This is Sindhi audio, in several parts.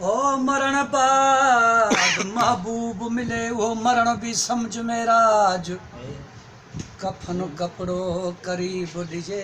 او مرڻ بعد محبوب ملي اهو مرڻ به سمجهه معراج ڪفن ڪپڙو قريب ڏجي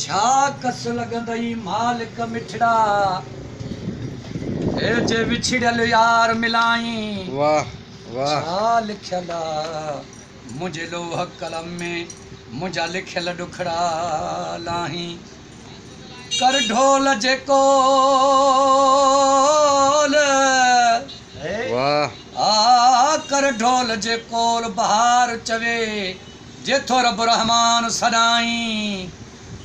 ڇا ڪس لڳندئي مالڪ مٺڙا. هي جي وڇڙيل يار ملائين. واھ واھ. ڇا لکيل آ منهنجي لوح قلم ۾. منهنجا لکيل ڏکڙا لاهين. ڪر ڍول جي قول. واھ. آ ڪر ڍول جي قول بهار چوي. جي ٿو رب الرحمان سڏائين.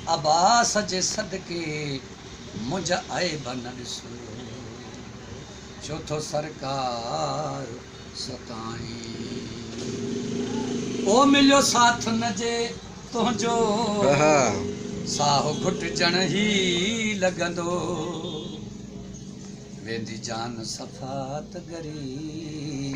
عباس جي صدقي منهنجا عيب نه ڏسو. ڇو ٿو سرڪار ستائين. او مليو ساٿ نه جي تنهنجو. ساهو گهٽجڻ هي لڳندو. ويندي جان صفات ڳري.